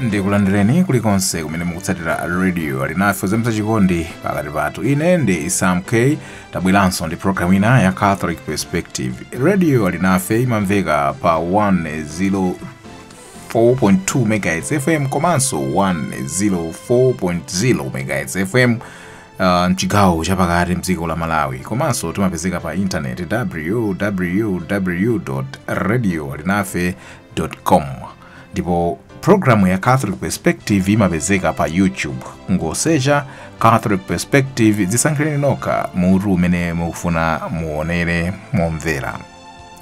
ndikulandireni kulikonse kumene mukutsatira radio alinafe kuzamitsa chikondi pakati pathu ine ndi sam k tabweranso ndi programu ina ya catholic perspective radio alinafe imamveka pa 104.2 megahertz fm komanso 104.0 megahertz fm Uh, mchigawo chapakati mdziko la malawi komanso timapezeka pa intaneti www radio alinafe com ndipo programu ya catholic perspective imapezeka pa youtube mungosecha catholic perspective dzisankhireni nokha mutu umene mukufuna muonere momvera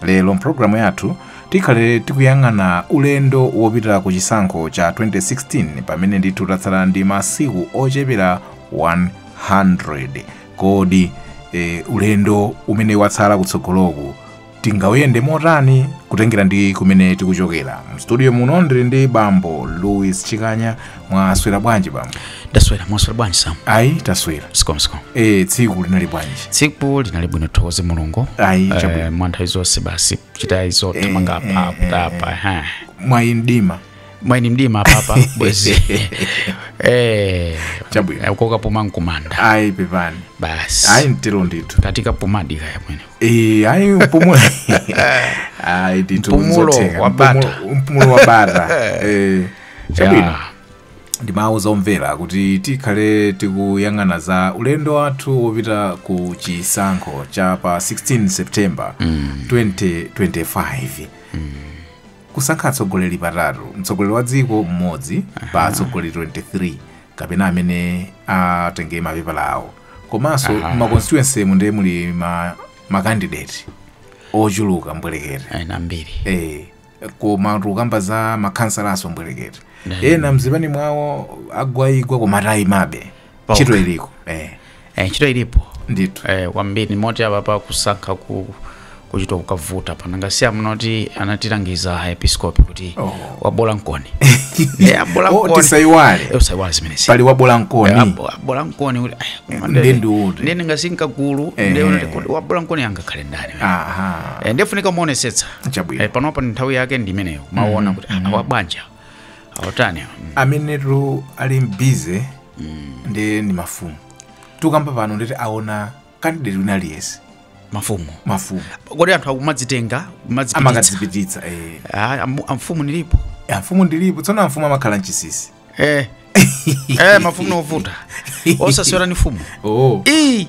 lero mpulogalamu yathu tikhale tikuyang'ana ulendo wopita ku chisankho cha 2016 pamene ndithu tatsala ndi masiku ochepera 100 kodi e, ulendo umene watsala kutsogoloku tingawuyende motani kutengera ndi kumene tikuchokera mstudio muno ndili ndi bambo louis chikanya mwaswera bwanji bambo ndaswera mwaswera bwanji sam ayi taswera zikomo zikomo e tsiku linali bwanji tsiku linali bwino tithokoze mulungu Ayi, chabwino. Eh, mwa nthawi zonse basi kuchita izo thamanga apa kutapa ha mwayi mdima mwayi ndi mdima apapa bwezi Eh, Chabwino. eh, kokapuma nkumanda ayi pepani basi ayi mtero ndithu ka tikapumadi kaya mwene e ayi mpumulo ayi ndithu Mpumulo nzotheka. wa bata. Mpumulo- mpumulo wa bata e Chabwino. Ya, ndimawuza omvera kuti tikhale tikuyang'ana za ulendo wathu wopita ku chisankho cha pa 16 september 2025 kusankha atsogoleri patatu mtsogoleri wa dziko mmodzi pa atsogoleri 23 kapena amene atenge mapepala awo komanso ma constituency mu ndiye muli ma, ma candidate ochuluka mbwerekere ayi ndi ambiri eh, koma tikukamba za makhansalaso mbwerekete ena mzipani mwawo agwayigwa koma atayimabe Paokha. ntchito iliko eh, eh, ntchito ilipo ndithu eh, kwambiri moti apa pa kusankha ku kuchita kukavuta pa nanga si amunoti anatilangiza aepiskopi kuti Oh. wabola mkoni Eh, abola Oh, mkoni. tisaiwale. Eh, usaiwale zimenezi pali wabola mkoni abola mkoni kuti "Ai, koma Ndi ndene- ndiuti." ndene ngasinka gulu Eh. ndekuti wabola mkoni angakhale ndani aha Eh, ndefunika kuonetsetsa chabwino Eh, panopa ndi nthawi yake ndi imeneyo maona kuti ah, awa banja awatani awa. Mm. amenetu ali busy ndiye ndi mafumu tukamba pano nditi aona kandideti wina aliyense mafumu mafumu kodi anthu akumadzitenga kumadzipititsa amakadzipititsa eh. Ah, am- amfumu ndilipo amfumu ndilipo tsono amfumu amakhala mchinsinsi eh eh mafumu ndi ovuta osasewera ndi mfumu oh ii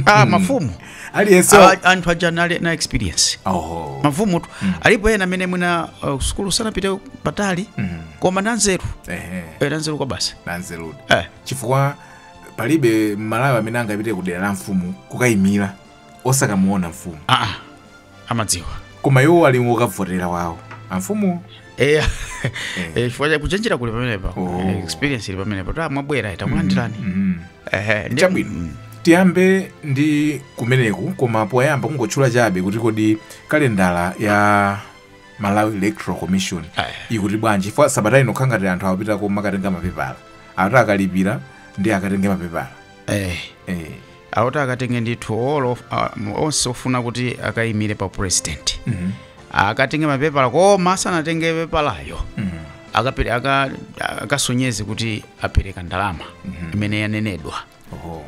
ah mafumu aliyense Awa- anthu aja anali na experience oh mafumu tu alipo ena amene mwina uh, sukulu sanapite patali koma nanzeru ehe eh, nanzeru kwabasi nanzerudi eh. chifukwa palibe mmalawi amene angapite ku dera la mfumu kukayimira osakamuona mfumu aa amadziwa koma iwo ali ndi wokavotera wawo amfumu eya Eh. eh, chifukwa cha kuchenjera kuli pamenepa Oh. Eh, experience ili pamenepa ta mwabwera takulandirani Mhm. Ehe, ndi- Chabwino. Mm. tiyambe ndi kumeneku koma poyamba kungotchula chabe kuti kodi kalendala ya malawi electoral commission Aya. ikuti bwanji chifukwa sabata ino kukhala ngati anthu akupita kumakatenga mapepala akuti akalipira ndi akatenge mapepala Eh, eh. akuti akatenge ndithu all of, uh, onse ofuna kuti akayimire pa president mm -hmm. akatenge mapepala koma asanatenge pepalayo mm -hmm. akasonyeze aka, aka kuti apereka ndalama mm -hmm. imene yanenedwa oh,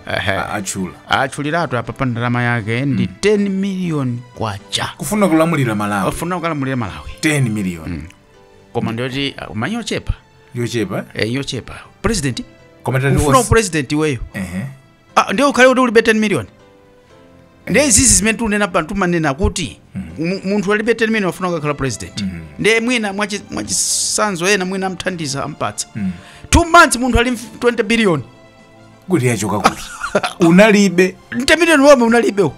atchuliratu apa pa ndalama yake ndi mm. 10 million kwacha kufuna kulamulira malawi kufuna kulamulira malawi 10 million mm. koma ndiyoti uh, money yochepa yochepa eh, yochepa president ukufuna upresident iweyo uh -huh. Ah, ndiye ukhale kuti ulibe 10 million ndiye izizi zimene tiunena pano tumanena kuti mu- munthu alibe 10 million afuna kukakhala president ndiye mwina mwachi- mwachisanzo ena mwina amthandiza ampatsa two months munthu ali ndi 20 billion kuti yachoka kuti unalibe 10 million womwe unalibe uwo.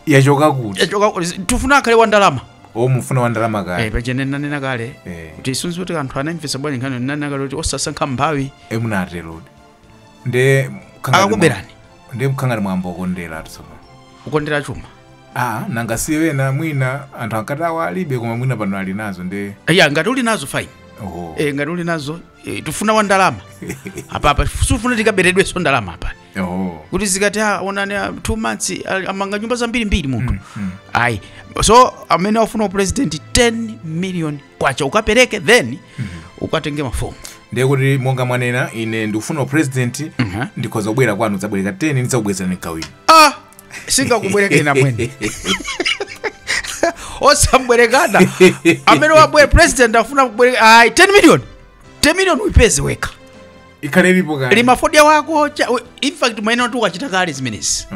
yachoka kuti Yachoka kuti- tifuna akhale wa ndalama o mufuna wa ndalama Eh, kale paja ine nanena kale Eh. kuti sindidziwa kuti anthu anamvesa bwanji nkhani nanena kale kuti osasankha mphawi e munaterodi nde Akakuberani. mwa- nde mukhala ngati mwayamba kukondera tsopano kukondera chuma ah nanga si ena mwina anthu ankati awa alibe koma mwina pano ali nazo nde ya ngati uli nazo fine oho e, ngati uli nazo e, tifuna wa ndalama apapa sitifuna tikaberedwenso ndalama apa oho kuti zikati ah, onani ah, two months ah, amanga nyumba zambirimbiri munthu ayi so amene afuna upresident 10 million kwacha ukapereke then ukatenge mafomu ndiye kuti monga mwanena ine ndikufuna upresident ndikhoza kubwera kwanu kudzabwereka 10 ndidzakubwezerani ndikawina ah sindingakubwerekeni amwene osambwereka amene wabwera president afuna kubwereka ayi 10 million 10 million uipeze wekha ikhale ilipo kale lima fodya wako cha- we- in fact mwina kuti ukachita kale zimenezi Oh.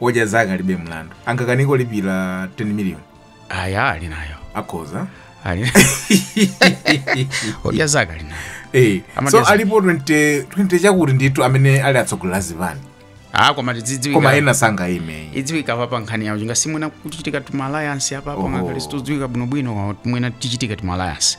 odya zake alibe mlandu angakanike kulipira 10 million aya ali nayo akhoza ali odya zake ali nayo Eh, Amadya so zake. alipo 20 20 chakuti ndithu amene ali atsogoleri a zipani ah koma koma tidzidziwika ena sangaime idziwika apa pa nkhani yawo nanga si mwina kuchitika tuma alliance apa apa Oho. ngakhale sizidziwika bwinobwino mwina tichitika tuma alliance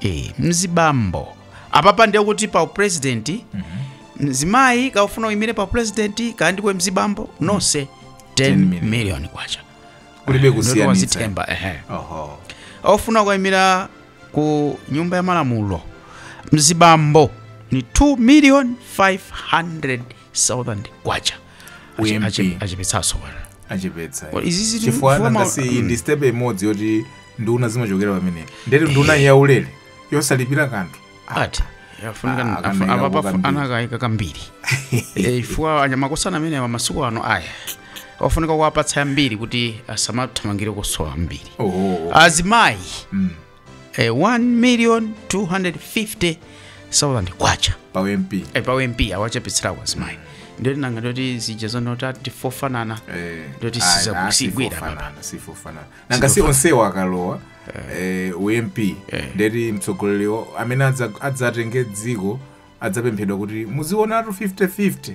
Eh, mzibambo apapa ndiye kuti pa upresident mzimayi kaya ufuna uyimire pa upresident kaya ndiwe mzibambo nonse 10 million kwacha kulibe kusiyanitsa wazitemba ehe oho ofuna kuyimira ku nyumba ya malamulo mzibambo ni 2 million 500,000 kwacha Ache- UMP. ache- achepetsaso bwana achepetsa Well, izi zili- chifukwa chifukwa ma- nanga si iyi ndi step imodzi yoti nduna zimachokera pamene ndeti nduna yaulere yosalipira kanthu ati afunika Ah, afu- kanaika apa- kukambiri. anakaika kambiri Eh, chifukwa anyamakosana amene awa masiku ano aya afunika kuwapatsa yambiri kuti asamathamangire kusowa ambiri oh, azimayi eh, 1 million 250,000 kwacha pa mp eh, pa ump awachepetsera kwa azimayi ndiye nanga ndiye kuti zija zonena kuti ati fofanana ndiye kuti siza- sizigwira apapa sifofanana nanga si onsewo akalowa eh, ump ndeti mtsogoleriwo amene adza- adzatenge dziko adzapemphedwa kuti muzionatu 50-50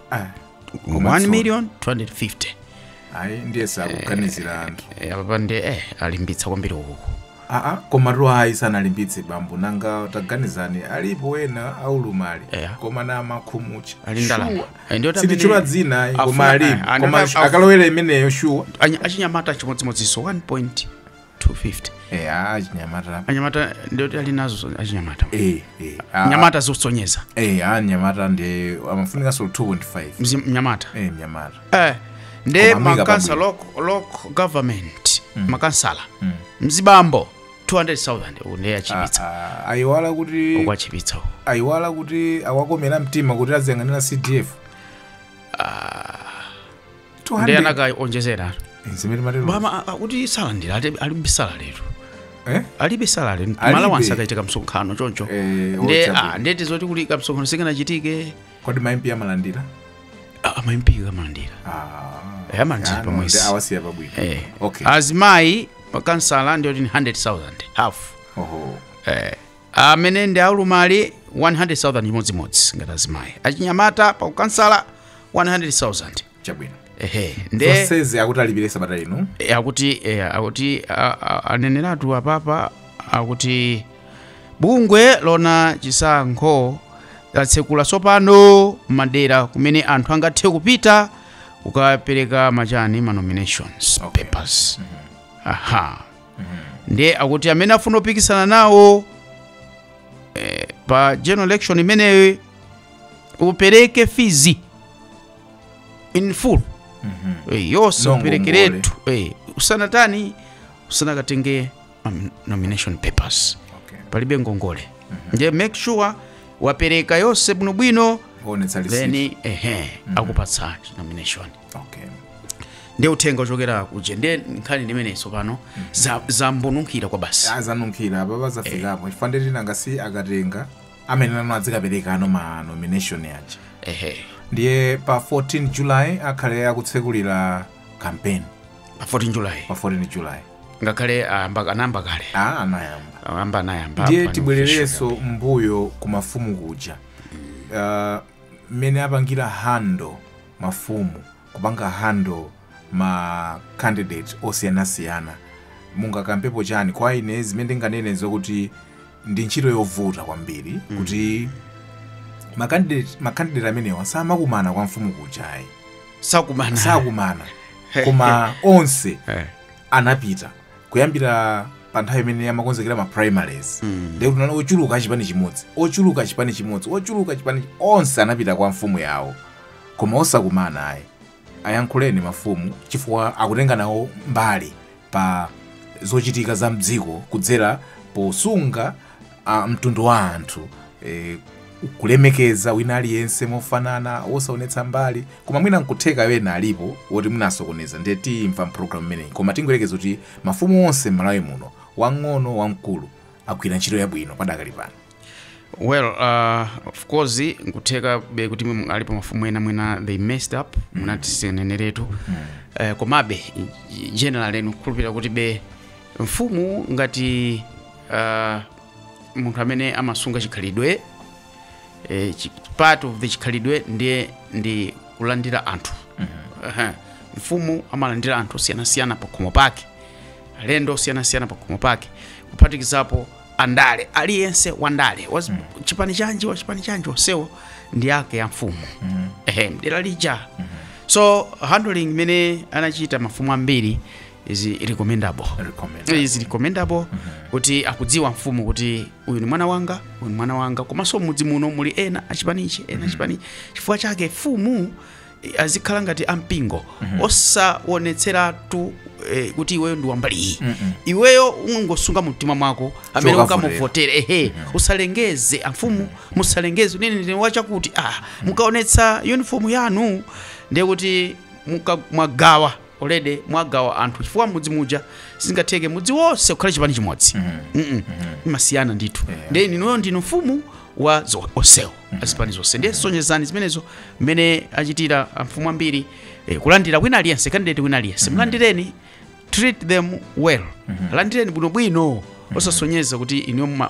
Ah, 1 million 250 ayi ndiye sakuganizira anthu Eh, apapa nde eh alimbitsa kwambiri uku aa komatu ayi sanalimbitse bambo nanga taganizani alipo ena aulumali Yeah. koma ndi makhumutcha Ali ndi ndalama. Sure. Eh, ndiyo tambiri- sitichula dzina ayi, Afuna- koma alipo eh, anaka- koma af- akalowera imeneyo shuwa Anya- achinyamata chimodzimodziso 1 point 250 eh achinyamata anyamata ndio ali nazo achinyamata eh eh anyamata zikusonyeza eh anyamata nde amafunikaso 2.5 Mzi- mnyamata eh nyamata eh nde Koma amika makansala local, local government makansala mzibambo 200000 uku nde atchipitsa Ah, ah, ayiwala kuti uku atchipitsa uku ayiwala kuti awakomera mtima kuti aziyang'anira cdf nde anakaonjezera zimene mwatero paja akuti salandira ati alibe salaletu eh alibe salale Alibe. ma alawansi akapita kumsonkhano choncho Eh, nde ochabe. ah, ndeti zoti kuli kamsonkhano sikanachitike kodi ma MP amalandira a ma MP amalandira ah Eh, amalandira Ah, no, pamwezi. nde awasiya pabwino eh. okay azimayi pa ukansala ndiyoti ni 100000 half oho eh. amene ndi aulumali 100,000 chimodzimodzi ngati azimayi achinyamata pa ukansala 100,000 chabwino ehe nde zonsezi akuti alipire sabata ino eh, akuti eh, akuti a- a- aneneratu apapa akuti bungwe loona chisankho latsekula tsopano m'madera kumene anthu angathe kupita kukapereka machani ma nominations Okay. papers aha ndiye akuti amene afuna kupikisana nawo eh, pa general election imeneyo upereke fees in full Eh, yonse Nongo uperekeretu Eh, usanatani usanakatenge um, nomination papers Okay. palibe ngongole nde make sure wapereka yonse bwinobwino Kuonetsa receipt. then ehe akupatsa nomination okay ndiye uthenga ochokera kuja ndi nkhani ndimeneyi tsopano za- zambonunkhira kwa basi azanunkhira apapa zafikapo chifukwa ndi tinanga si akatenga amene nawo adzikapereka no ma nomination aja ehe ndiye pa 14 july akhale akutsekulira campaign pa 14 july pa 14 july ngakhale ayamba- anayamba kale a anayamba ayamba anayamba ndiye apa- tibwererenso mbuyo ku mafumu kuja Ah, mmene apangira handle mafumu kupanga handle ma candidate osiyanasiyana mungakambepo chani kwa ine zimene ndinganene zokuti ndi ntchito yovuta kwambiri mm. kuti makandidate makandidate amenewa samakumana kwa mfumu kujayi sakumana koma onse eh. anapita kuyambira pa nthawi imene amakonzekera ma primaries mm. ndekuti nana ochuluka achipani chimodzi ochuluka chipani chimodzi ochuluka chipani onse anapita kwa mfumu yawo koma osakumana ayi ayankhuleni mafumu chifukwa akutenga nawo mbali pa zochitika za mdziko kudzera posunga ah, mtundu wa anthu eh, kulemekeza wina aliyense mofanana wosaonetsa mbali koma mwina nkutheka ena alipo woti munasokoneza ndiye timva mpulogalamu imeneyi koma tingoyerekeza kuti mafumu onse m'malawi muno wang'ono wamkulu agwira ntchito yabwino padakali pano well uh, of course nkutheka be kuti mwe alipo mafumu ena mwina they messed up munati tineneretu uh, komabe generally kukhulupirira kuti be mfumu ngati uh, munthu amene amasunga chikhalidwe eh, chi- part of the chikhalidwe ndiye ndi kulandira anthu Aha. mfumu amalandira anthu osiyanasiyana pakhomo pake alendo osiyanasiyana pakhomo pake kuphatikizapo andale aliyense wandale wa mm. chipani chanji wa chipani chanji onsewo ndi ake a mfumu mm. ehe mdera lija mm. so handling imene amachita mafumu ambiri is recommendable Recommendable. is recommendable kuti akudziwa mfumu kuti uyu ni mwana wanga uyu ni mwana wanga komanso mudzi muno muli ena achipanichi ena achipanichi chifukwa chake mfumu azikhala ngati ampingo osawonetseratu eh, kuti iweyo ndi wambali iyi iweyo ungosunga mu mtima mwako amene ukamuvotere ehe usalengeze amfumu musalengeze unene ndine wachakuti ah mukaonetsa uniform yanu ndiye kuti muka- mwagawa already mwagawa anthu chifukwa mudzi muja sizingatheke mudzi wonse kukhala chipani chimodzi Mm-mm. zimasiyana ndithu ndiye inuyo ndinu mfumu wa zo- onsewo azipani zonse ndiye sonyezani zimenezo mmene achitira amfumu ambiri eh, kulandira wina aliyense kandidate wina aliyense mlandireni treat them well landireni bwinobwino osasonyeza kuti inuyo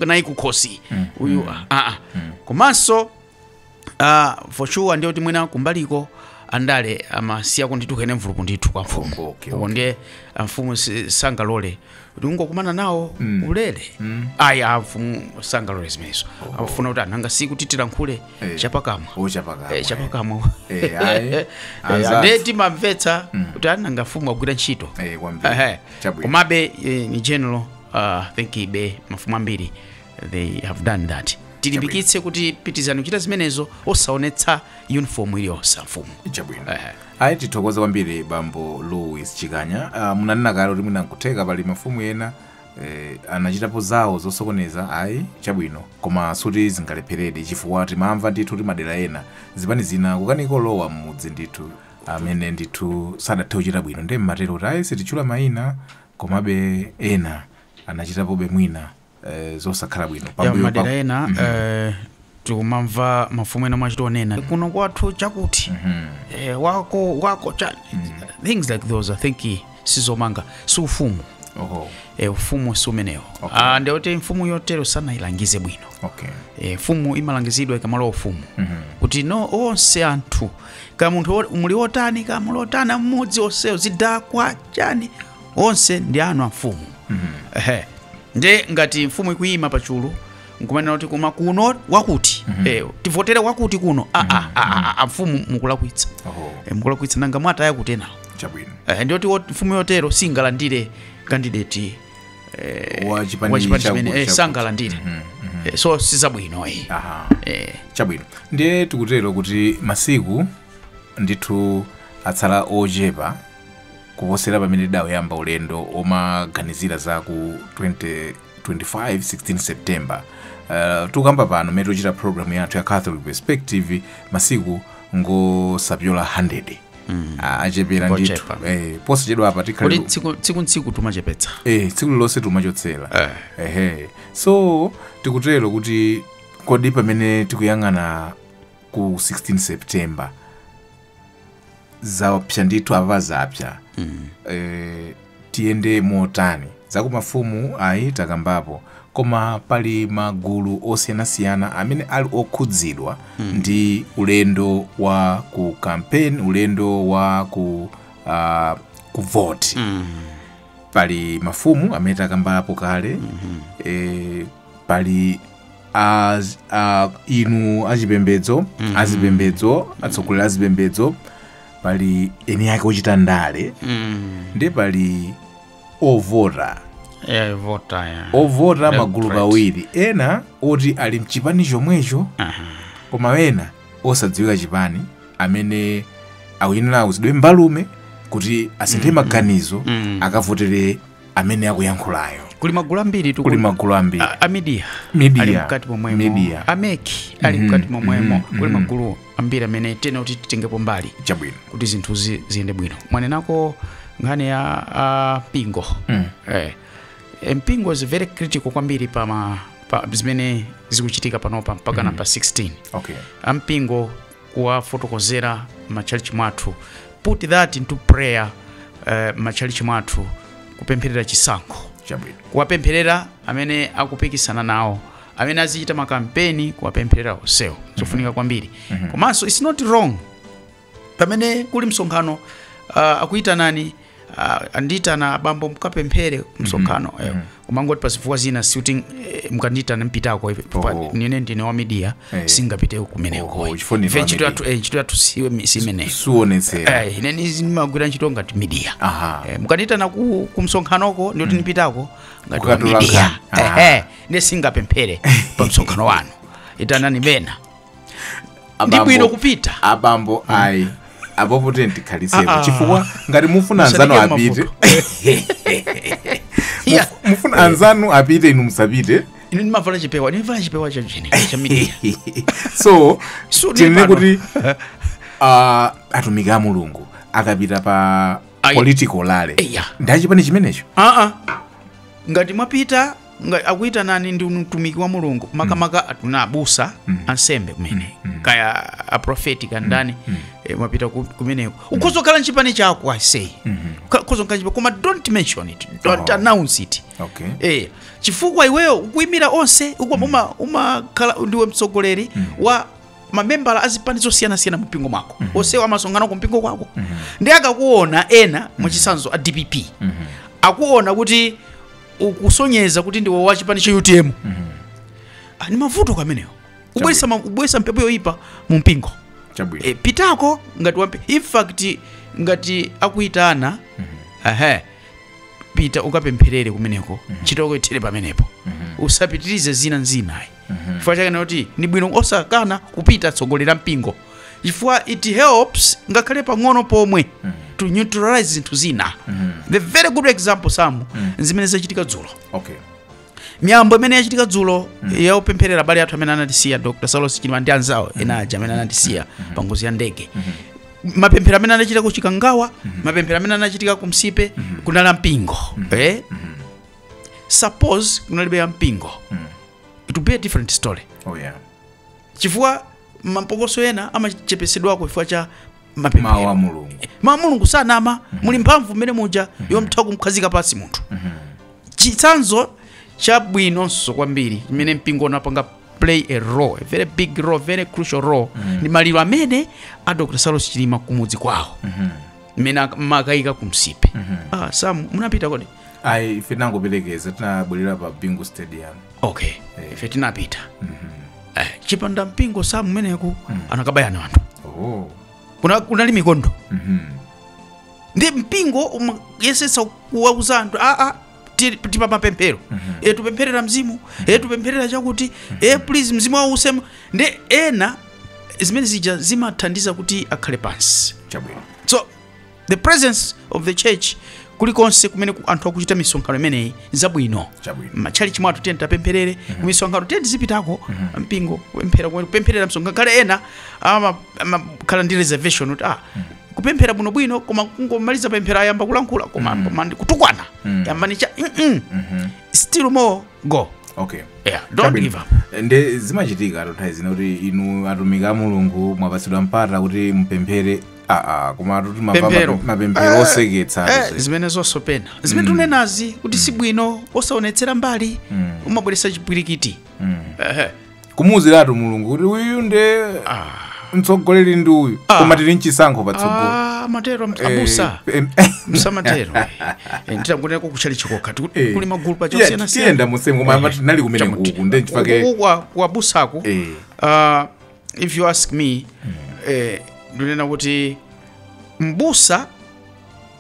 nayi kukhosi uyu ah, ah. komanso ah, for sure ndiye kuti mwina kumbaliko andale amasiya kundituka ine mvulupu ndithu kwa mfumu Okay, uko ndiye amfumu si- sangalole kungokumana nawo ulere ayi amfumu sangalole zimenezo afuna kuti ananga si kuti tilankhule Eh. chapakamwa Chapakamwa. Eh, chapakamwa Eh, ayi. Eh, Anzathu. and timamvetsa kuti ananga mfumu agwira ntchito Eh, kwambiri. Ehe. Chabwino. komabe eh, in general uh, think ibe mafumu ambiri they have done that tilimbikitse kuti pitirizani kuchita zimenezo osaonetsa uniform iliyonse amfumu chabwino ayi tithokoze kwambiri bambo louis chikanya uh, munanena kale kuti mwina nkutheka pali mafumu ena eh, anachitapo zawo zosokoneza ayi chabwino koma sikuti zingalepheredi chifukwa timamva ndithu kuti madera ena zipani zina kukanika kulowa m'mudzi ndithu amene ndithu sadathe kuchita bwino ndiye mmatero kuti ayi sititchula mayina komabe ena anachitapobe mwina eh, zosakhala bwino ya Pambuyo madera pa- ena Mhm. eh, tikumamva mafumu ena amachita kunena kuno kwathu chakuti Mhm. eh, wako wako chani things like those i think sizomanga si ufumu Oho. eh, ufumu si umenewo Okay. Ah, ndiye kuti mfumu yotero sanayilangize bwino Okay. eh, mfumu imalangizidwa ikamalowa ufumu Mhm. kuti no onse anthu kaya munthu wo- ali otani kaya ali otani mmudzi onsewo zidakwa chani onse ndi anu a mfumu Ehe. nde ngati mfumu ikuyima pa chulu nkumanena kuti koma kuno wakuti mm -hmm. eh, tivotere wakuti kuno mm -hmm. a, a, a, mfumu mukulakwitsa oh. eh, mukulakwitsa nanga mwataya kutenawo chabwino eh, ndiye kuti mfumu yotero singalandire kandideti eh, wachipani chimene eh, sangalandire mm -hmm. eh, so sizabwino eh. eh. chabwino ndiye tikutero kuti masiku ndithu atsala ochepa kuposera pamene tidauyamba ulendo womaganizira za ku 2025 16 september uh, tukamba pano mmene tochita programu yathu ya catholic perspective masiku ngosapyola 100 mm. achepera ndithu Ochepa. eh, posachedwa apa tikhale kodi tsiku tsiku ntsiku tumachepetsa eh, tsiku lilonse tumachotsera eh. ehe so tikutero kuti kodi pamene tikuyang'ana ku 16 september zapsa ndithu apa zapsa eh, tiyende motani za kumafumu ayi takambapo koma pali magulu osiyanasiyana amene ali okhudzidwa ndi ulendo wa ku campaign ulendo wa ku uh, ku vote pali mafumu amene takambapo kale eh, pali az, a, inu achipembedzo mm -hmm. azipembedzo atsogoleri azipembedzo pali eni ake ochita ndale mm. ndi pali ovota yeah, vota yeah. ovota magulu pawiri ena oti ali mchipani chomwecho uh -huh. koma ena osadziwika chipani amene akuyenera kuuzidwe mbalume kuti asinthe mm -hmm. maganizo mm -hmm. akavotere amene akuyankhulayo kuli magulu ambiritu kuli magulu ambiri a- a media Media. ali mkati momwemo Media. a MEC ali Mhm, mkati momwemo mhm, kuli mhm. magulu ambiri amene tinena kuti titengepo mbali chabwino kuti zinthu zi- ziyende bwino mwanenako nkhani ya a mpingo Mm. eh, eh, mpingo is very critical kwambiri pa, ma, pa zimene zikuchitika panopa mpakana pa 16 okay a mpingo kuwafotokozera m'matchalitchi mwathu put that into prayer uh, m'matchalitchi mwathu kupempherera chisankho chabwino kuwapempherera amene akupikisana nawo amene azichita makampeni kuwapempherera onsewo zofunika kwambiri komanso it's not wrong pamene kuli msonkhano uh, akuyitanani Ah, andiyitana abambo mukapemphere kumsonkhano eh, umangoti pa zifukwa zina sikuti eh, mukandiyitana ndipitako ife pa- Oh. nine ndine wa midiya Eh. sindingapiteko Oh, kumeneko chifukwa ndine wa ntchito yathu media. eh, ntchito yathu siwe- si imeneyo suonetsera Eh, ine nizi ndimagwira ntchito ngati midiya Aha. Eh, mukandiyitana ku, ku msonkhanoko ndikuti ndipitako ngati wa Kukatola midiya nkhani. Aha. Ehe, ndiye sindingapemphere pa msonkhano wanu itanani ena ndi Abambo- bwino kupita abambo ayi apopo tikhalitsepo Ah, ah. chifukwa ngati mufuna anzanu Musadike apite mavuto. Yeah. Muf- mufuna anzanu apite inu musapite ine ndimavala chipewa ndimavala chipewa cha chani cha media so So, tinene nepano. kuti ah, atumiki a mulungu akapita pa Ayi. political rally Eya. ndi achipani chimenecho aa ngati mwapita Nga- akuyitanani ndi mtumiki wa mulungu makamaka atinawo abusa ansembe kumene kaya aprofeti kaya ndani eh, mwapita ku- kumeneko ukhoza kukhala nchipani chako I say ukhoza kukhala nchipani koma don't mention it don't Oh. announce it okay Eh, chifukwa iweyo ukuimira onse ukuwa uma- umakhala ndiwe mtsogoleri wa mamembala azipani zosiyanasiyana mu mpingo mwako onsewo amasonkhana ku mpingo kwako ndi akakuona ena mwachitsanzo a dpp akuona kuti ukusonyeza kuti ndiwe wa chipani cha utm Ah, ni mavuto amenewo ubwesa, ma- ubweretsa mphepo yoyipa mu mpingo chabwino e, pitako ngati wampe in fact ngati akuyitana ehe pita ukapempherere kumeneko ntchito yako ithere pamenepo usapitirize zina nzinayi chifukwa chake n'choti ndi bwino osakana kupita atsogoleri a mpingo chifukwa it helps ngakhale pang'ono pomwe to neutralize zinthu zina the very good example samu zimene zachitika dzulo okay miyambo imene yachitika dzulo yaupempherera abale athu amene anatisiya dr saulos chilima ndi anzawo ena aja amene anatisiya pa ngozi ya ndege mapemphero amene anachitika ku chikangawa mapemphero amene anachitika ku nsipe kunali a mpingo eh? suppose kunalibe a mpingo it would be a different story oh yeah chifukwa mapokoso ena amachepetsedwako chifukwa cha mawu a mapemphero mulungu ma mulungu osanama muli mphamvu mmene muja yotha kumkhazika pansi munthu chitsanzo chabwinonso kwambiri chimene mpingo unapanga play a role a very big role very crucial role ndi maliro amene a dr saulos chilima kumudzi kwawo mmene ak- amakayika ku nsipe ah, sam munapita kodi ayi ife tinangoperekeza tinabwerera pa bingu stadium okay Eh. ife tinapita eh, chipanda mpingo sam kumeneku anakabayana anthu oh. Kuna- kunali mikondo Mhm. ndi mpingo umayesetsa kuwauza anthu aa ti- tipa mapemphero e tupempherera mzimu e tupempherera chakuti e please mzimu wawo uuse nde ena zimene zija zimathandiza kuti akhale pansi chabwino so the presence of the church kulikonse kumene ku- anthu akuchita misonkhano imeneyi nzabwino Chabwino. matchalichi mwathu tiyeni tikapempherere kumisonkhano tiyeni tizipitako mpingo kupemphera kumene kupempherera msonkhano kale ena ama- amakhala ndi reservation kuti ah kupemphera bwino bwino koma kungomaliza pemphero ayamba kulankhula koma mm. koma ndi kutukwana Mm. yambani cha mm -mm. Mhm. still more go okay yeah don't Chabwino. give up nde zimachitika a Thotha nthawi zina kuti inu atumiki a mulungu mwapatsidwa mpata kuti mupemphere aa koma atuti Pemphero. mapemphero Eh, oseketsa eh, atuti. zimenezonso pena zimene tunenazi kuti si bwino osaonetsera mbali umabweretsa chipwirikiti Mm. Ehe. kumuwuziratu mulungu kuti uyu nde mtsogoleri ndi uyu koma tili mchisankho patsogolo Ah, matero am- abusa Eh, em- msamatero Eh, nditangonenako kuchali chikoka Tiku- Eh. kuli magulu pa Tiye- chosiyana tiyenda musemu koma amati tinali kumene kuku nde nchifukwa abusako Eh. uh, if you ask me eh, ndinena kuti mbusa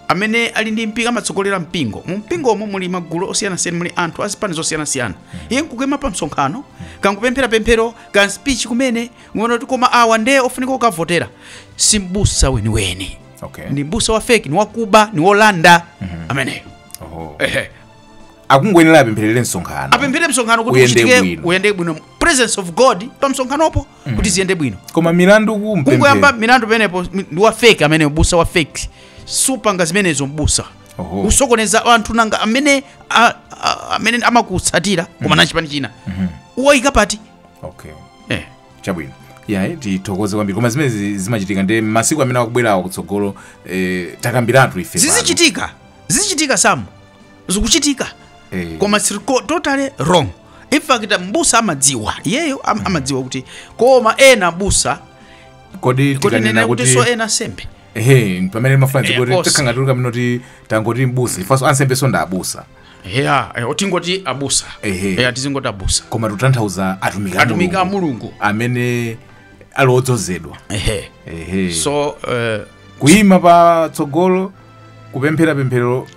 amene ali ndi mpingo amatsogolera mpingo mu mpingomo muli magulu osiyanasiyana muli anthu a zipani zosiyanasiyana iye nkukaima pa msonkhano kangopemphera pemphero ka speech kumene ungoona kuti koma awa nde ofunika kukavotera si mbusa weniweni Okay. ndi mbusa wa fake ni wakuba ni wolanda ameneyo Oho. Ehe. akungoyenera apempherere msonkhano apemphere msonkhano kuti Uyende uchitike bwino. uyende bwino presence of god pa msonkhanopo kuti ziyende bwino koma milandu kungoyamba kupemphera milandu pamenepo mi- ndi wa fake amene mbusa wa fake supanga zimenezo mbusa Oho. usokoneza anthu nanga amene a- a- amene amakutsatira koma na chipani china uwayika pati okay eh. chabwino yayi tithokoze kwambiri koma zimene zi- zimachitika nde masiku amene akubwerawo kutsogolo eh, takambiratu ife pano. zizichitika zizichitika samu zikuchitika Eh. koma it's co- totally wrong in fact mbusa amadziwa iyeyo am, amadziwa kuti koma ena abusa kodi kuti tikanena nena kuti kuti so ena ansembe ehe pamene mafanzi Eh, kuti kosi. tikhangatuluka mino ti tangoti mbusa ifanso ansembe so ndi abusa ya eh, tingoti abusa Ehe. Eh, tizingoti abusa koma tutanthauza atumiki a atumiki a Mulungu mulungu amene ali odzozedwa ehe ehe so eh, kuyima pa tsogolo kupemphera pemphero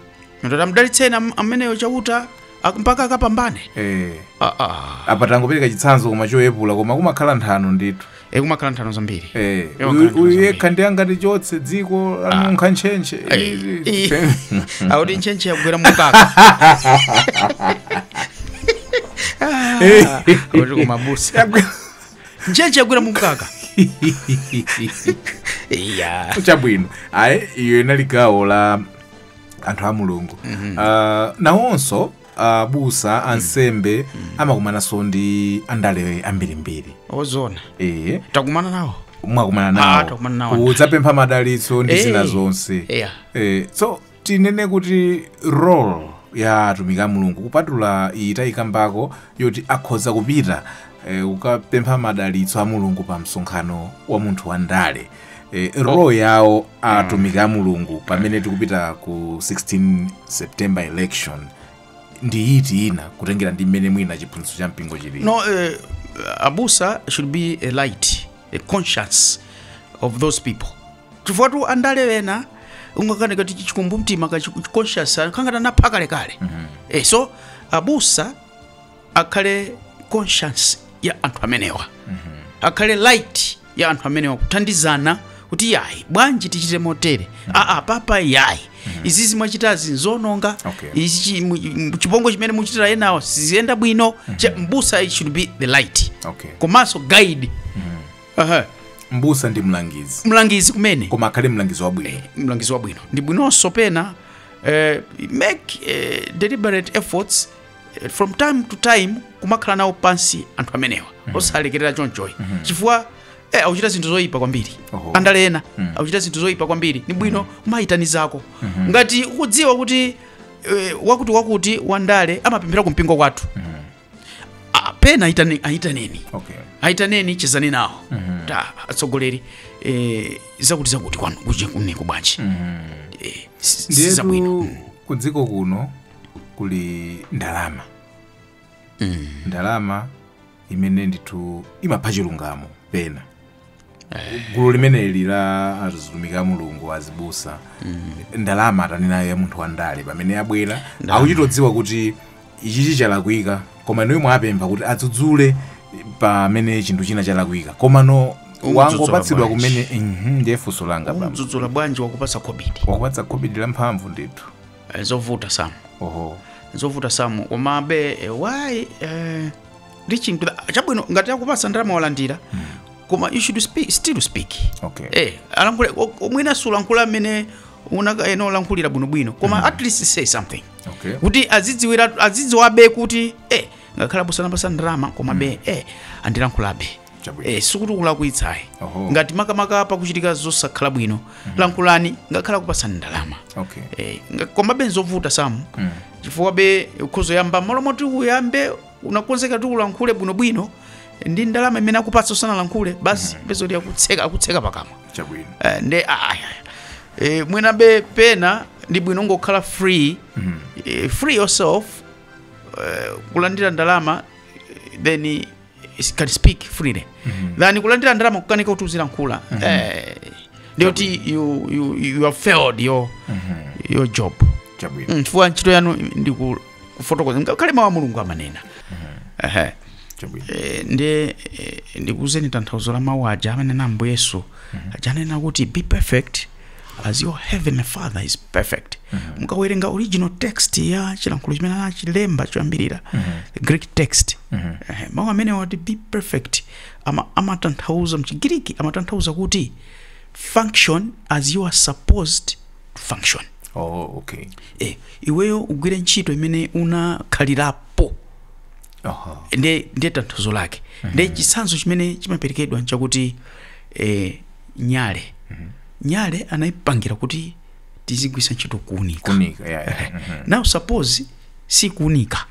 ndiye mdalitseni am- ameneyo chauta ak- mpaka akapambane eh Ah, ah. apa tangopereka chitsanzo koma choyepula koma kumakhala nthano ndithu Eh, kumakhala nthano zambiri Eh, Iwo uyu- nkhani uyu zambiri. yekha ndi angati chonse dziko lanunkha ntchentche akuti ntchentche yagwera mumkaka akuti kumabusa ntchentche yagwera mumkaka iya chabwino ayi iyo inali gawo la anthu a mulungu Ah, nawonso abusa ansembe amakumananso ndi andale ambirimbiri zoona ee takumana nawo mwakumana Ah, takumana nawo nawo. kudzapempha madalitso ndi Eh, zina zonse yeah. Eh, so tinene kuti role ya atumiki a mulungu kupatula iyi tayikambako yoti akhoza kupita eh, kukapempha madalitso a mulungu pa msonkhano wa munthu wa ndale eh, role yawo atumiki a mulungu pamene tikupita ku 16 september election ndi iti ina kutengera ndi mmene mwina chiphunzitso cha mpingo chili No, uh, abusa should be a light, a conscience of those people. chifukwatu andale ena umangokhala ngati chikumbumtima ka chi- conscience kangati anapha kalekale Eh, so abusa akhale conscience ya anthu amenewa akhale light ya anthu amenewa kuthandizana kuti yayi bwanji tichite motere aa papa yayi izizi mwachitazi nzononga Okay. izi chi- mu- mu- chipongwe chimene mukuchitira enawo siziyenda bwino Cha- mbusa it should be the light okay komanso guide Aha. mbusa ndi mlangizi mlangizi kumene koma akhale mlangizi wabwino mlangizi wabwino ndi bwinonso pena eh, make eh, deliberate efforts Eh, from time to time kumakhala nawo pansi anthu amenewa osalekerera chonchoyi chifukwa eh, akuchita zinthu zoyipa kwambiri Oho. andale ena akuchita zinthu zoyipa kwambiri ni bwino kumayitanizako ngati ukudziwa kuti eh, wakuti wakuti wandale amapemphera ku mpingo kwathu Ah, pena ayitane- ayitaneni okay ayitaneni chezani nawo ta atsogoleri eh, zakuti zakuti kwanu ku- kuneko bwanji Eh, si- si zabwino ndiyetu ku dziko kuno kuli ndalama mm. ndalama imene ndithu imapha chilungamo pena eh. gulu limeneli la atumiki a mulungu azibusa mm. ndalama ataninayo ya munthu wandale pamene abwera akuchitodziwa kuti ichichi chalakwika komano iwe wapempha kuti adzudzule pamene chinthu china chalakwika komano wangopatsidwa kumene mhm, ndiye funso langa bambo. Umdzudzula bwanji wakupatsa khobidi? Wakupatsa khobidi la mphamvu ndithu. Eh, zovuta Sam oho zovuta Sam komabe eh, why eh, reaching to the chabwino ngati akupasa ndalama walandira koma you should speak, still speak okay eh alankhule o- o- mwina sulankhula mmene unakayenera kulankhulira bwinobwino koma at least say something okay kuti azidziwira azidziwabe kuti eh ngakhale abusa ndawapasa ndalama komabe eh andilankhulabe Chabwino. eh, sikuti ukulakwitsayi Oho. ngati makamaka pakuchitika zosakhala bwino lankhulani ngakhale akupasani ndalama Okay. eh, nga- komabe nzovuta Sam Mm. chifukwabe ukhoza kuyamba malo moti uyambe unakonzeka ti ulankhule bwinobwino ndi ndalama imene akupatsa usanalankhule basi upeza kuti akutseka akutseka pakamwa Chabwino. Eh, nde ah, ah, eh, mwinabe pena ndi bwino kungokhala free eh, free yourself eh, kulandira ndalama eh, then you can speak freely than kulandira ndalama kukanika kuti uzilankhula Eh, ndiye kuti you, you, you have failed your, your job chabwino Mm, chifukwa ntchito yanu ndi ku- kufotokoza ngakhale mawu a mulungu amanena Ehe. chabwino Eh, ndi eh, ndikuuzeni tanthauzo la mawu aja amene ambuye yesu aja anena kuti be perfect as your heavenly father is perfect mukawerenga original text ya chilankhulo chimene anachilemba choyambirira the greek text Eh, mawu amenewa ati be perfect ama- amatanthauza mchigiriki amatanthauza kuti function as you are supposed to function oh okay eh, iweyo ugwire ntchito imene unakhalirapo Aha. ndiye ndiye tanthauzo lake ndiye chitsanzo chimene chimaperekedwa nchakuti eh, nyale nyale anayipangira kuti tizigwiritsa ntchito kuunika Kuunika, yeah, yeah. Mhm. now suppose si kuunika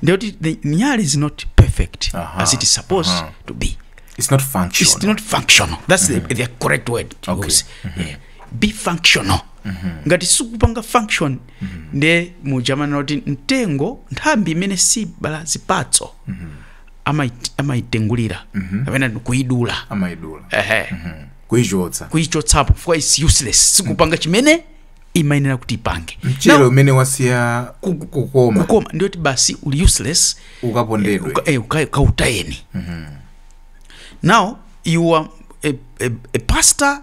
ndiye kuti the nyale is not perfect Aha, as it is supposed aha. to be It's not functional. it's not functional that's the, the correct word to Okay. use yeah. functional ngati sikupanga function nde muja amanena kuti mtengo nthambi imene sibala zipatso amai- amaitengulira kapena kuidula amaidula ehe kuichotsa kuichotsapo chifukwa it's useless sikupanga chimene imayenera kuti ipange mchere Now, umene wasiya ku- ku- kukoma kukoma ndiye kuti basi uli useless ukapondedwe uka- eh, uka- ukautayeni now you are a, a, a pastor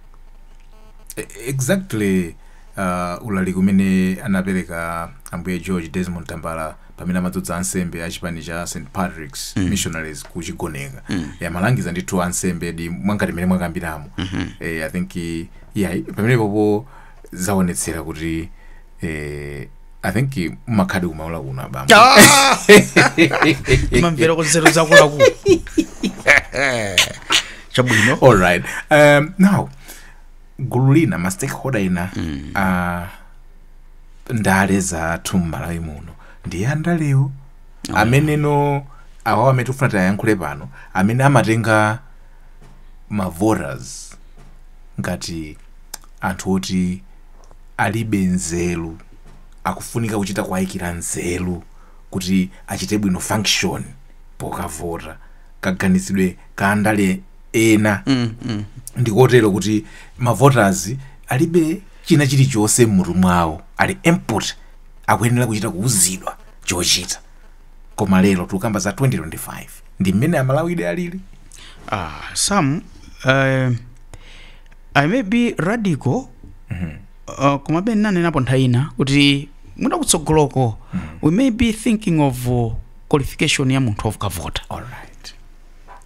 E- exactly uh, ulaliki umene anapereka ambuye george desmond tambala pamene amadzodza ansembe a chipani cha st patrick's mm. missionaries ku chigoneka mm. amalangiza ndithu ansembe ndi mwangati mmene mwakambiramo mm-hmm. eh, i think yeah, pamenepopo zaonetsera kuti eh, i think mumakhaladi ku Maula kuno abambo mumamvera nzeru za akuluakulu chabwino all right um, now gulu lina ma stakeholder ina mm. uh, ndale zathu mmalawi muno ndiye andalewo ameneno awawa amene tikufuna tiwayankhule pano amene amatenga ma voters ngati anthu oti alibe nzeru akufunika kuchita kuwayikira nzeru kuti achite bwino function pokavota kaganizidwe ka andale ena ndikotero kuti mavoters alibe china chilichonse m'mutu mwawo ali empty akuyenera kuchita kuuzidwa chochita koma lero tikukamba za 2025 ndi mmene amalawide alili Ah, Sam, eh, I may be radical uh, komabe ndinanenapo nthawi ina kuti mwina kutsogoloko we may be thinking of uh, qualification ya munthu okavota all right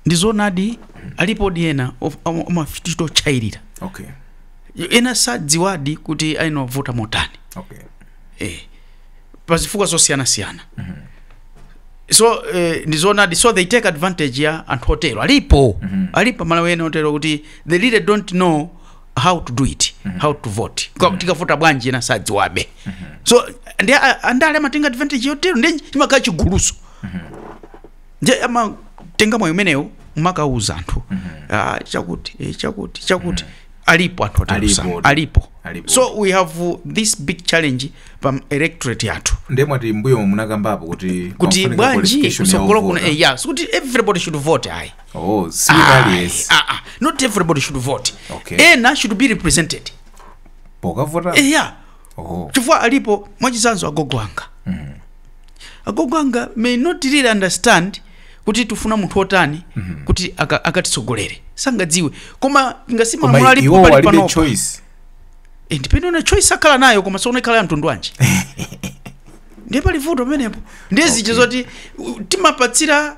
ndi zoonadi alipodi ena amachita kuchayirira okay ena sadziwadi kuti ayenera kuvota motani okay eh. pa zifukwa zosiyanasiyana so eh, ndi zoonadi so they take advantage ya anthu otero alipo alipo amalawi ena otero kuti they really don't know how to do it how to vote Kwa- tikavota bwanji ena sadziwabe so ndiye a- andale amatenga advantage yotero ndiye chimakhala chiguluso ndiye amatenga mwayi umenewo kumakauza anthu ah, chakuti eh, chakuti chakuti alipo anthu otero Alipo, Sam. alipo. alipo Alipo. so we have uh, this big challenge pa electorate yathu nde mwati mbuyomu munakambapo kuti kuti pamafunika bwanji qualification ya kutsogolo kuno ovota. eh, yeah, sikuti everybody should vote ayi oh si pali yes Ah, ah, not everybody should vote Okay. ena should be represented pokavota Eh, yeah oh. chifukwa alipo mwachitsanzo agogo anga mm. agogo anga may not really understand kuti tifuna munthu otani mm -hmm. kuti aka- akatitsogolere aka sangadziwe koma ngasima koma malamulo iwo alipo pali walibe panopa choice Eh, ndipende una choice akhala nayo koma tsono ikhala ya mtundu wanji ndiye pali vuto pamenepo ndiye zija zoti u- timapatsira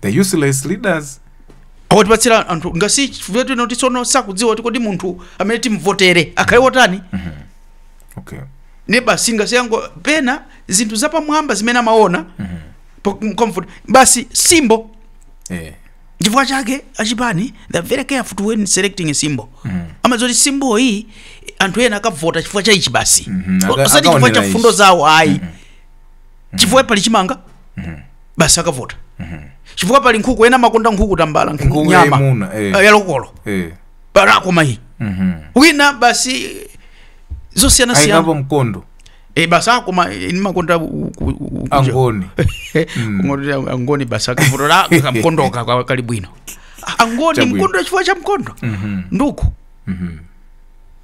the useless leaders awatipatsira anthu ngasi chifukwa tino kuti tsono sakudziwa kuti kodi munthu amene timuvotere akhale wotani okay ne basi ngasi yango pena zinthu zapamwamba zimene amaona po- comfort basi simbo eh chifukwa chake achipani they're very careful to when selecting a symbol amadziwa kuti simbo iyi anthu ena akavota chifukwa cha ichi basi Mhm, aka- osati chifukwa akaonera cha ichi. mfundo zawo ayi chifukwa pali chimanga basi akavota chifukwa pali nkhuku ena amakonda nkhuku tambala nkhuku Nkhuku nyama yayimuna, eh. eh, ya lokolo eh bola koma iyi mhm wina basi ayikapo zosiyanasiyana mkondo e, basi akoma eh, nimakonda u- u- u- u- angoni Ngoti angoni basi akavotera kamkondoka kwa- kali bwino angoni Chabwino. mkondo chifukwa cha mkondo nduku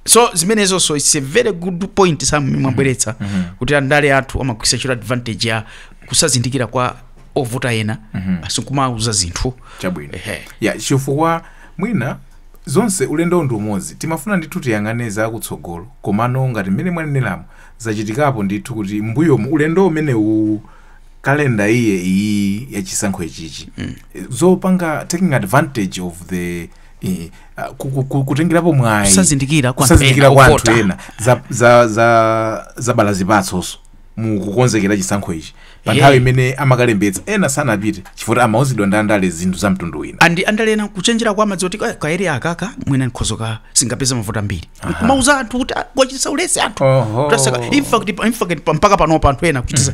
so zimenezonso it's a very good point sam mwabweretsa kuti andale athu amagwiritsa ntchito advantage ya kusazindikira kwa ovota ena basi kumauza zinthu chabwino Ehe. ya chifukwa mwina zonse ulendo ndi umodzi timafuna ndithu tiyang'ane za kutsogolo komano ngati mmene mwaneneramu zachitikapo ndithu kuti mbuyomu ulendo umene uwu kalenda iye iyi yachisankho ichichi zopanga taking advantage of the eh, ah, ku- ku- ku- kutengerapo mwayi Kusazindikira kwa anthu kusazindikira ena, kwa anthu ovota. ena za- za- za- zabala zipatsonso mu kukonzekera chisankho ichi pa Yeah. nthawi imene amakalembetsa ena sanapite chifukwa amauzidwa ndi andale zinthu za mtundu wina ndi andale ena kuchenjera kwake amadziwa kuti "Eh, kaeriya akaka mwina nkhozaka sindingapeze mavoti ambiri kumauza anthu kuti "Ah, kuwachititsa ulesi anthu Oho. Kutaseka- in fact, pa- in fact, pa- mpaka panopa anthu ena kuchititsa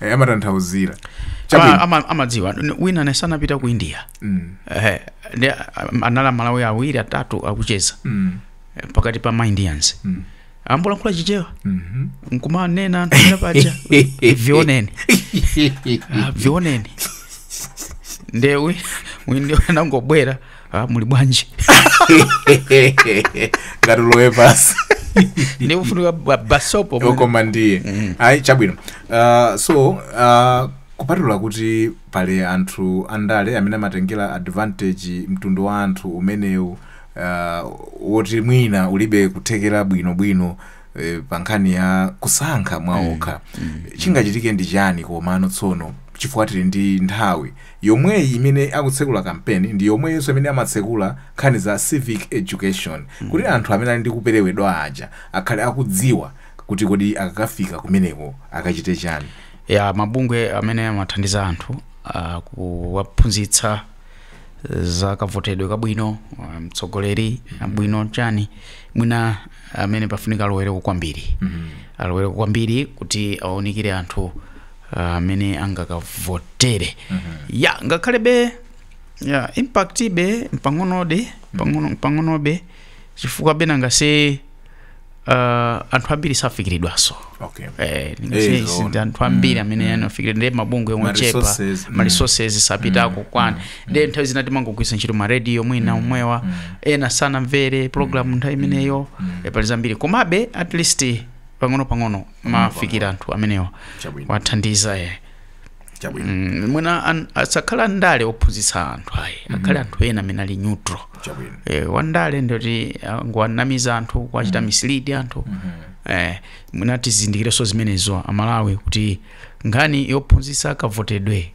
Eh, amatanthauzira Ama- chabwino ama- amadziwa N- wina ane sanapita ku india Mm, Eh, ndi a- anali amalawi awiri atatu akucheza mm, eh, pakati pa ma indians mm, akuyankhula chichewa mhm. nkumanena anthu paja vioneni Ah, vioneni nde mmwindiya anangobwera ah, muli bwanji ngati ulowe basi ndikufunika ba- basopo mwene. okoma ndiye ayi chabwino uh, so uh, kupatula kuti pali anthu andale amene amatengera advantage mtundu wa anthu umenewu uh, woti mwina ulibe kuthekera bwinobwino eh, pa nkhani ya kusankha mwaokha chingachitike ndi chani komano tsono chifukwa tili ndi nthawi Yomweyi imene akutsekula kampeni ndi yomweyonso imene amatsekula nkhani za civic education kuti anthu amene ali ndi kuperewedwa aja akhale akudziwa kuti kodi akakafika kumeneko akachite chani. Eya, mabungwe amene amathandiza anthu akuwaphunzitsa za kavotedwe kabwino, mtsogoleri wabwino chani, mwina amene pafunika alowereko kwambiri alowereko kwambiri kuti awaunikire anthu ah, amene angakavotere ya ngakhalebe ya impact be mpang'ono ndi pang'ono- pang'onobe chifukwa bena ngase ah, anthu ambiri safikiridwaso okay Eh, ndingase Eh, izi zoona. ndi anthu ambiri amene anafikira ndi mabungwe ochepa resources, mm. ma resources sapitako okwana ndi nthawi zina timangogwiritsa ntchito ma radio mwina omwewa ena sanamvere program nthawi imeneyo eh, pali zambiri komabe at least pang'ono pang'ono mafikira anthu amenewa Chabwino. wathandiza eh. chabwino Mm, mwina an- asakhale andale ophunzitsa anthu ayi akhale anthu ena amene ali neutral chabwino eh, wandale ndeti ngowanamiza anthu kuwachita mislead anthu eh, mwina tizindikireso zimenezo amalawi kuti nkhani yophunzitsa kavotedwe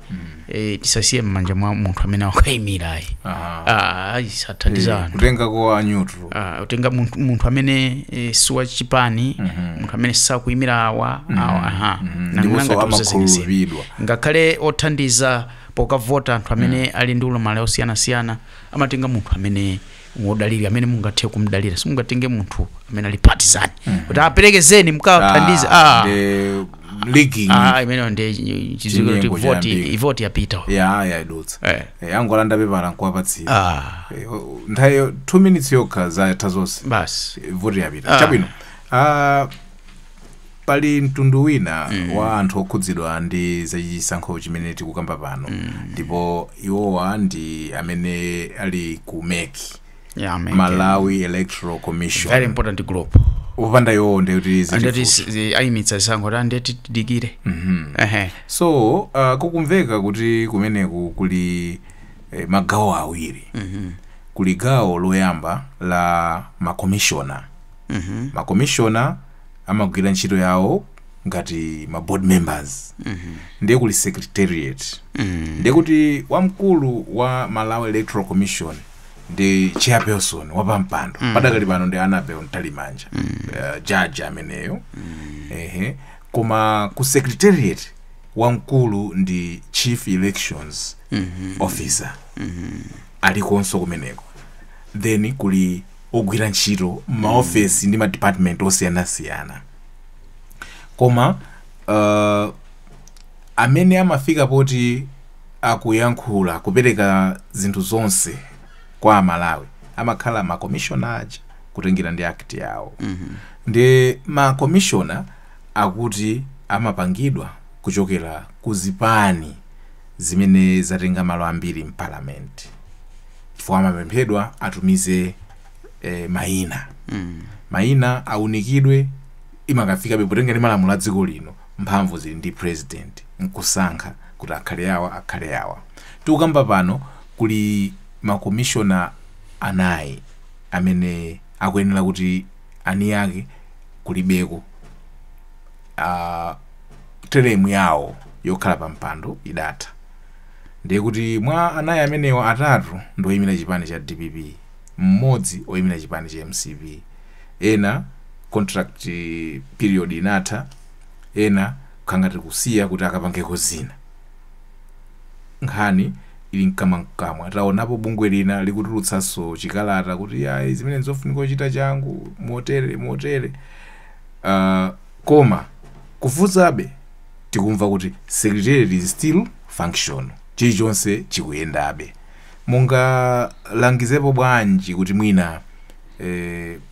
eh, tisasiye m'manja mwa munthu amene wakaimira ayi Aha. Ah, ayi sathandiza Eh, anthu kutenga kwa a neutral Ah, utenga munthu, munthu amene eh, si wa chipani munthu amene sakuyimira awa awa aha Nanga ndiponso ngati uzazimisira. amakhulupiridwa ngakhale othandiza pokavota anthu amene ali ndi ulumali osiyanasiyana amatenga munthu amene modalira amene mungathe kumdalira simungatenge munthu amene ali partisan kuti aperekezeni mkawathandize Ah, ah, the leaking ah, imeneyo ndi chiziko kuti Chinyengo voti chiyambika. ivoti yapita ya yayidutsa Eh. Eh, angolanda pepala nkuwapatsira ah, Eh, o- nthawi 2 minutes yokha zatha zonse basi Eh, voti yapita Ah. chabwino Ah, pali mtundu wina wa anthu okhudzidwa ndi zachisankho chimene tikukamba pano ndipo iwowa ndi amene ali ku mec Yeah, man. malawi electoral commission very important group kupanda iwowo ndiye kuti zili andeti fupi. s- zi- ayimitsa zisankho ta andeti tidikire Ehe. so uh, kukumveka kuti kumeneku kuli eh, magawo awiri kuli gawo loyamba la makomishona makomishona amagwira ntchito yawo ngati ma board members ndiye kuli secretariat ndiye kuti wamkulu wa malawi electoral commission ndi chairperson wapampando padakali pano ndi anabel mtalimanja uh, judge ameneyo ehe koma ku secretariat wamkulu ndi chief elections officer alikonso kumeneko then kuli ogwira ntchito m'maofesi ndi madipatimenti osiyanasiyana koma uh, amene amafika poti akuyankhula kupereka zinthu zonse kwa amalawi amakhala makomishona aja kutengera ndi akiti yawo ndi makomishona akuti amapangidwa kuchokera ku zipani zimene zatenga malo ambiri mpalamenti chifukwa amapemphedwa atumize eh, mayina mayina aunikidwe imakafikabe potenga ndi malamulo a dziko lino mphamvu zili ndi president nkusankha kuti akhale awa akhale awa tikukamba pano kuli makomishona anayi amene akuyenera kuti anayi ake kulibeko uh, teremu yawo yokhala pa mpando idatha Ndiye kuti mwa anayi amenewa atatu ndi oyimira chipani cha dpp, mmodzi oyimira chipani cha mcp. Ena contract period inatha, ena kangati kusiya kuti akapangeko zina. Nkhani ili mkamwamkamwa. Taonapo bungwe lina likutulutsanso chikalata kuti iyayi zimene n'zofunika kuchita changu motere motere. Koma kufunsabe tikumva kuti secretariat is still function, chilichonse chikuyendabe. Mungalangizepo bwanji kuti mwina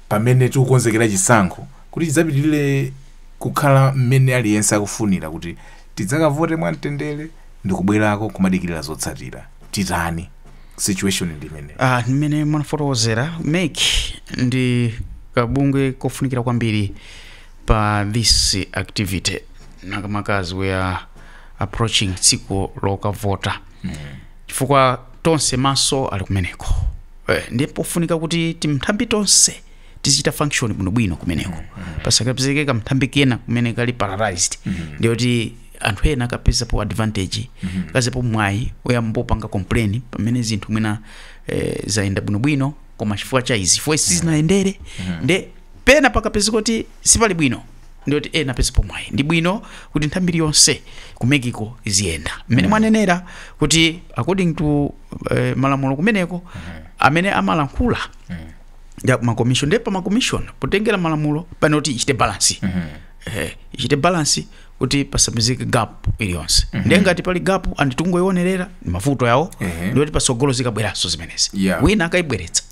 pamene tikukonzekera chisankho kuti chidzapitilire kukhala mmene aliyense akufunira kuti tidzakavote mwamtendere ndikubwerako kumadikirira zotsatira? Titani? situation ndi imene Ah, mmene mwanafotokozera mec ndi kabungwe kofunikira kwambiri pa this activity makamaka as we are approaching tsiku lokavota chifukwa tonse maso ali kumeneko eh, ndi pofunika kuti timthambi tonse tizichita function bwinobwino kumeneko pasakapezeke kamthambi kena kumene kali paralyzed ndiye kuti anthu ena akapezapo advantage akapezapo mwayi oyamba opanga complain pamene zinthu mwina eh, zayenda bwinobwino koma chifukwa cha izi chifukwa sizinayendere nde pena pakapezeka kuti sipali bwino ndiyoti ena apezapo mwayi ndi bwino kuti nthawi mbiri yonse ku meki ko iziyenda mmene mwanenera kuti according to eh, malamulo kumeneko amene amalankhula ya makomishoni nde pa makomishoni potengera malamulo pafunika ichite balansi eh, ichite balansi kuti pasapezeke gap iliyonse ndiye ngati pali gap ndi kungoionerera mavuto yawo Ehe. ndiye kuti patsogolo zikabweranso zimenezi Yeah. wina akaibweretsa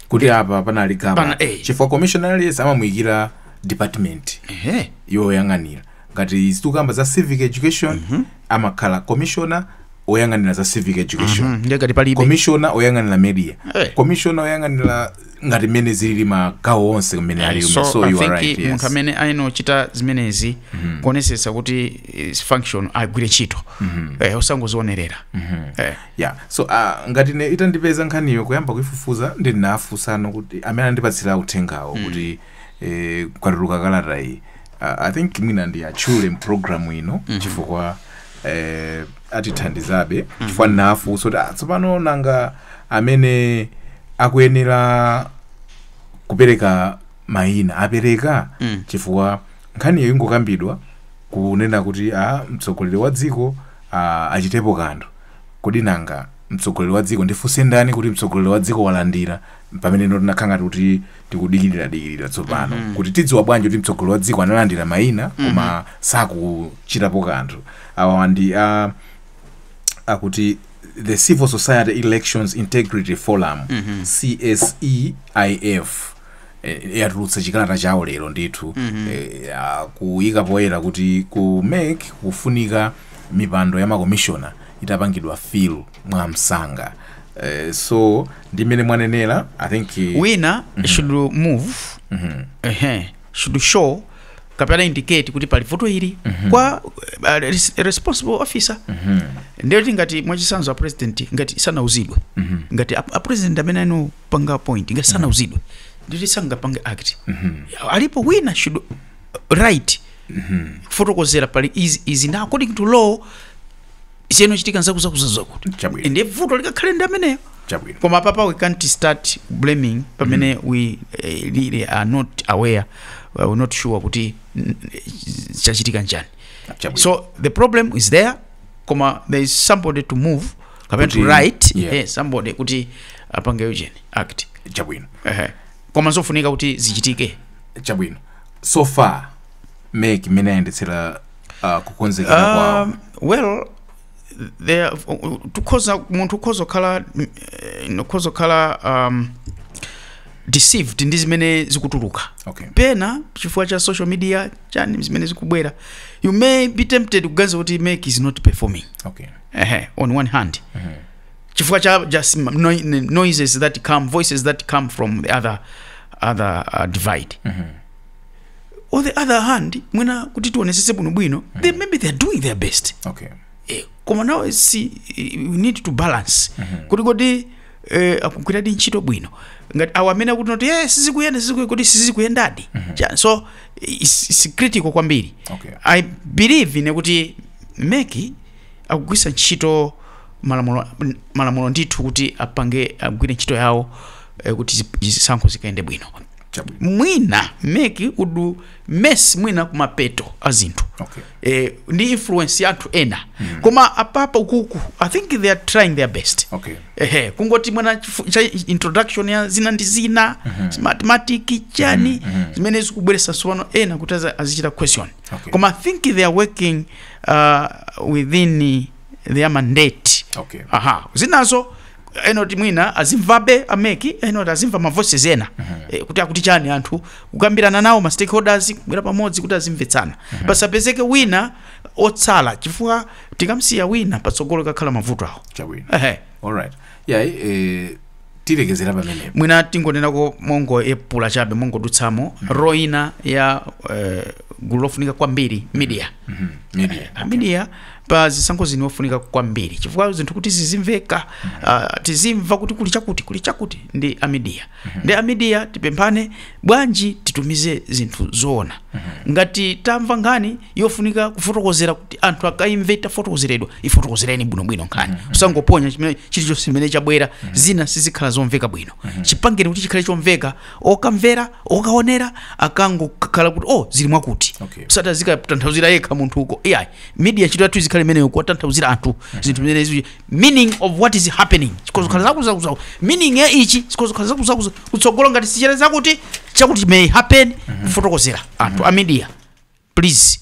kuti apa panali gap Pana- eh. chifukwa commissioner aliyense amamuyikira department ehe yoyang'anira ngati tikukamba za civic education amakhala commissioner oyang'anira za civic education mm, ndiye ngati pali commissioner oyang'anira media Hey. commissioner oyang'anira ngati mmene zilili magawo onse kumene ali so, so I you are think right munthu yes. amene ayenera kuchita zimenezi kuonesetsa kuti function agwire ntchito eh, osangozionerera eh. yeah so uh, ngati ine itandipeza nkhaniyo kuyamba kuifufuza ndinafunsano kuti amene andipatsira uthengawo kuti eh, kwatuluka kalata iyi Ah, i think mwina ndiwatchule m'pulogalamu ino chifukwa eh, atithandizabe chifukwa ndinafunsa kuti "Ah, tsopano nanga amene akuyenera kupereka mayina apereka Mm. chifukwa nkhaniyo ingokambidwa kunena kuti a mtsogoleri wa dziko ah, achitepo kanthu kodi nanga mtsogoleri wa dziko ndifunsa ndani kuti mtsogoleri wa dziko walandira pamene ife tinakhala ngati kuti tikudikirira dikirira tsopano mm -hmm. kuti tidziwa bwanji kuti mtsogoleri wa dziko analandira maina mm -hmm. koma sakuchitapo kanthu awa ndi a uh, akuti the civil society elections integrity forum mm -hmm. cseif eh, yatulutsa chikalata chawo lero ndithu mm -hmm. eh, akuyika poyera kuti ku mec kufunika mipando ya makomishona itapangidwa fill mwamsanga eh, so ndi mmene mwanenera i think wina should move ehe, should show kapena indicate kuti pali vuto ili kwa uh, res- responsible officer ndiye kuti ngati mwachisanzo a president ngati sanauzidwe ngati a, a president amene anapanga appoint ngati sanauzidwe ndiye kuti sangapange act alipo wina should write kufotokozera pali izi izi na according to law ziyenera kuchitika n'zakuti zakuti zakuti Chabwino. ndiye vuto likakhale ndi ameneyo chabwino koma apapa we can't start blaming pamene we eh, really are not aware uh, we're not sure kuti mm, eh, chachitika n'chani Chabwino. so the problem is there koma there is somebody to move kapena to Kuti- write yeah. eh, somebody kuti apange ujeni act chabwino Ehe. koma zofunika kuti zichitike chabwino so far meki mmene ayendetsera uh, kukonzekera kwawo Um, well there uh, uh, tukhoza munthu ukhoza kukhala mm, eh, ukhoza kukhala um, deceived ndi zimene zikutuluka okay pena chifukwa cha social media chani zimene zikubwera you may be tempted kuganiza kuti MEC is not performing okay Ehe, on one hand chifukwa cha just m- noi- noises that come voices that come from the other other uh, divide on the other hand mwina kuti tionetsetse bwinobwino they maybe they are doing their best okay Eh, koma now si eh, we need to balance kuti kodi eh, akugwiradi ntchito bwino ngati awo amene akuti noti eh, sizikuyenda sizikuye- kuti sizikuyendadi Cha- so it's, it's critical kwambiri Okay. i believe ine kuti MEC akugwiritsa ntchito malamulo malamulo ndithu kuti apange agwire ntchito yawo eh, kuti zi- zisankho zikayende bwino chabwino mwina MEC would mess mwina kumapeto a zinthu Okay. eh, ndi influence ya anthu ena koma apapa ukuku i think they are trying their best Okay. ehe kungoti mwina chifu- cha introduction ya zina ndi zina ma smartmatic chani zimene zikubweretsa tsopano ena kuti aza- azichita question Okay. koma i think they are working uh, within their mandate Okay. aha zinazo ena kuti mwina azimvabe a MEC ena kuti azimva ma voices ena eh, kuti akuti chani anthu kukambirana nawo ma stakeholders kubwera pamodzi kuti azimvetsana pasapezeke wina otsala chifukwa tikamsiya wina patsogolo kukhala mavuto awo chabwino ehe alright yeah eh, tilekezere pamenepo mwina tingonenako mongoyepula chabe mongodutsamo role ya eh, gulu lofunika kwambiri media media Ah, media pa zisankho zino ndi ofunika kwambiri chifukwa zinthu kuti zizimveka uh, tizimva kuti kuli chakuti kuli chakuti ndi amidiya ndi amidiya tipemphane bwanji titumize zinthu zoona ngati tamva nkhani yofunika kufotokozera kuti anthu akaimve itafotokozeredwa ifotokozereni bwinobwino nkhani usangoponya chimene- chilichonse chimene chabwera zina sizikhala zomveka bwino chipangeni kuti chikhale chomveka okamvera okaonera akangokhala kuti o oh, zili mwakuti Okay. osati azikatanthauzira yekha munthu uko iyayi media ntchito yathu izikhala imeneyo kuwatanthauzira anthu zinthu zimene izi meaning of what is happening chikhoza kukhala zakutizakuti meaning ya ichi chikhoza kukhala zakutizakuti kutsogolo ngati sichere zakuti chakuti may happen kufotokozera anthu a media please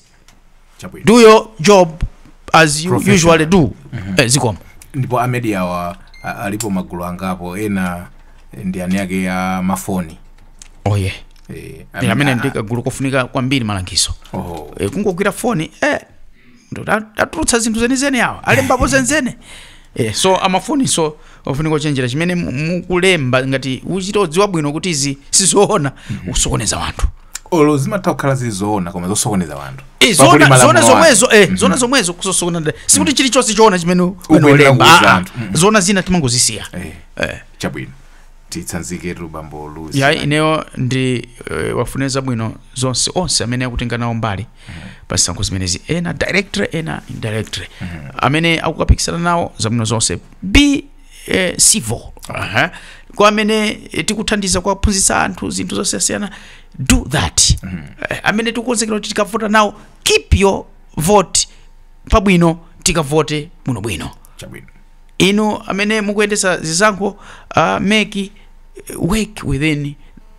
Chabwino. do your job as you Professional. usually do eh, zikomo ndipo amedia awa a- alipo magulu angapo ena ndi eni ake a mafoni oh yeah eh, eh amene ndi kagulu kofunika kwambiri malangizo oh. eh, kungogwira foni eh, tatulutsa zinthu zenizeni awa alembapo zenizeni eh, so amafoni nso ofunika kuchenjera chimene mukulemba ngati uchita kudziwa bwino kuti izi sizoona mm -hmm. usokoneza wanthu olo zimatha kukhala zizoona koma zosokoneza wanthu eh, zona zomwezo eh, mhm. zona zomwezo kusokoneza sikuti mhm. chilichonse choona chimene ungolemba ah, ah. mhm. zoona zina timangozisiya eh, eh. chabwino titsanziketu bambo louis ya ineyo ndi eh, wafunire zabwino zonse onse amene akutenga nawo mbali pa zisankho zimenezi ena directly ena indirectly amene akukapikisana nawo zabwino zonse be eh, civil Aha. kwa amene eh, tikuthandiza kuwaphunzitsa anthu zinthu zosiyasiyana do that Eh, amene tikukonzekera kuti tikavota nawo keep your vote pabwino tikavote bwinobwino chabwino inu amene mukuyendetsa zisankho uh, make uh, work within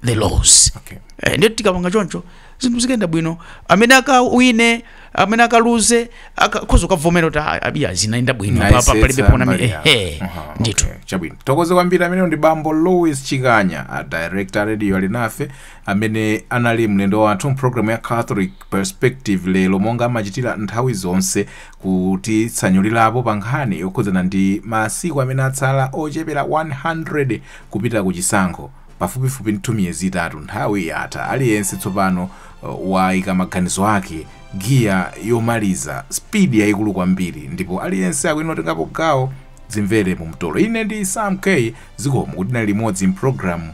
the laws Okay. eh, ndiye tikapanga choncho zinthu zikayenda bwino amene akawine amene akaluze akakhoza kukavomera kuti "Ah, abiya zinayenda bwino pa- pa- Mwayesetsa palibe pona mbali yako. ehe Aha, ndithu okay. chabwino tithokoze kwambiri ameneyo ndi bambo louis chikanya a director radio alinafe amene anali mlendo wathu mpulogalamu ya catholic perspective lero monga amachitira nthawi zonse kutitsanulirapo pa nkhani yokhudzana ndi masiku amene atsala ochepera 100 kupita ku chisankho, pafupifupi ndithu miyezi itatu, nthawi yatha, aliyense tsopano waika maganizo ake, giya yomaliza, speed yaikulu kwambiri, ndipo aliyense akuyenera kutengapo gawo, dzimvere mu mtolo. Ine ndi Sam K, zikomo kuti tinali limodzi m'programu